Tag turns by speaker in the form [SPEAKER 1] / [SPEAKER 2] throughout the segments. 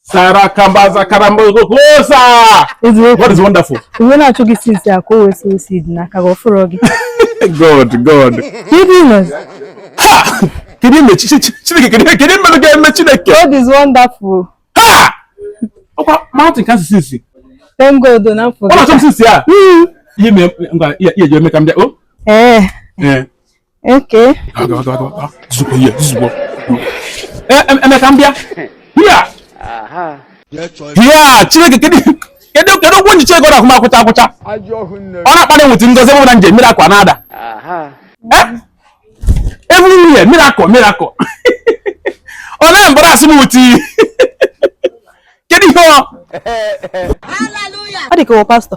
[SPEAKER 1] Sarakambaza karambogosa. God is wonderful. Uwe na-achụ gị
[SPEAKER 2] since a ka o wee sow seed dị n'aka gị ọfụrụ gị. God,
[SPEAKER 1] God. Kedu
[SPEAKER 2] ime? Ah!
[SPEAKER 1] Kedu ime Chineke? Kedu ihe m ga-eme
[SPEAKER 2] Chineke? God is wonderful.
[SPEAKER 1] Ha! Ọkwa mountain ka asụsụ isi. Thank God na
[SPEAKER 2] m fụ. Ọ na-achọ m since a.
[SPEAKER 1] Ihe mere ngwa ihe eji eme ka m bịa. Ee. Ee.
[SPEAKER 2] Okay. Aga aga
[SPEAKER 1] aga aga. Zuko ye, zuko. Em em ka m bịa. Bịa. Aha. Bịa, Chineke kedu kedu kedu okwu njiche ego na kuma akwụcha akwụcha. Ọ na-akpali m with ngozi bụ na nje miracle na-ada. Aha. Eh? Everywhere miracle miracle. Ọ na-embarrass m with. Kedu ihe ọ?
[SPEAKER 2] Hallelujah. Ọ dị ka pastọ.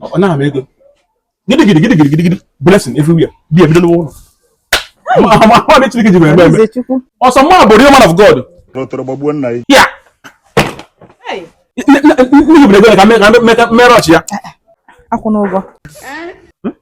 [SPEAKER 1] ọ naghị m ego gidi gidi gidi gidi gidi blessing everywhere ebe ebido n'ụwa ụlọ ma ma Chineke ji eme eme ọ sọ mwa bụ real man of God tọrọ gbagbuo nna ya ya n'ihi bụ na ego ka m me rush ya akwụ n'ụgwọ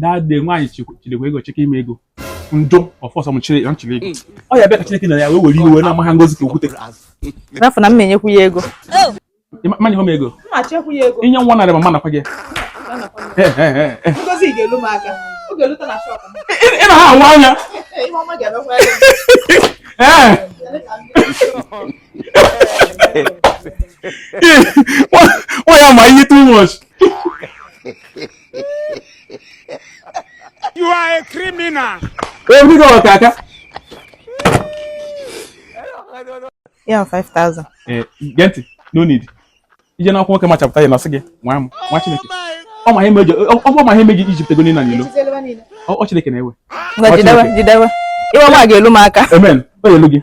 [SPEAKER 1] that day nwaanyị chidekwa ego cheke ime ego njọ ọfọsọ m chịrị m chịrị ego ọ ya bịa ka chineke na ya wee were iwe na amaghị ngozi ka okwute rafụ na m
[SPEAKER 2] na-enyekwu ya ego ma
[SPEAKER 1] nyekwa m ego inye
[SPEAKER 2] nwa narị ma ma nakwa gị ị na ha anwa anya
[SPEAKER 1] why am I too much
[SPEAKER 3] You are a criminal. Obi
[SPEAKER 1] ka
[SPEAKER 2] ọkaka. Ya 5000. Eh, gee
[SPEAKER 1] ntị, no need. I je na akwụkwọ nwoke ma chapter ya na-asị gị, nwa m, nwa Chineke. Ọ ma ihe m eji, ọ bụ ma ihe m eji iji pụta ego niine n'ilo. Ọ Chineke na-ewe. Ngwa jidewe, jidewe.
[SPEAKER 2] Ihe ọma ga-elu m aka. Amen. O elu gị.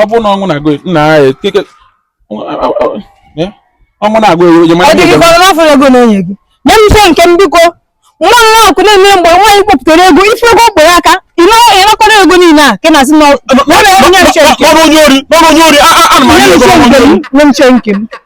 [SPEAKER 2] ọ
[SPEAKER 1] bụrụ na ọnwụ na-agụ nna ya keke ọnwụ na-agụ ewu onye mara ihe ọdịghịkọrọ n'afọ
[SPEAKER 2] ego na-enye gị nye m share nke m biko nwa m nwaakụ na-eme mgbe nwaanyị kpọpụtara ego ife ego ọ kpọrọ aka ị nakọrọ ego niile a ka na-asị na ọ na-enye m share nke m nọrọ onye ori nọrọ onye
[SPEAKER 1] ori a a a na m anya ego nọrọ onye
[SPEAKER 2] ori nye m share nke m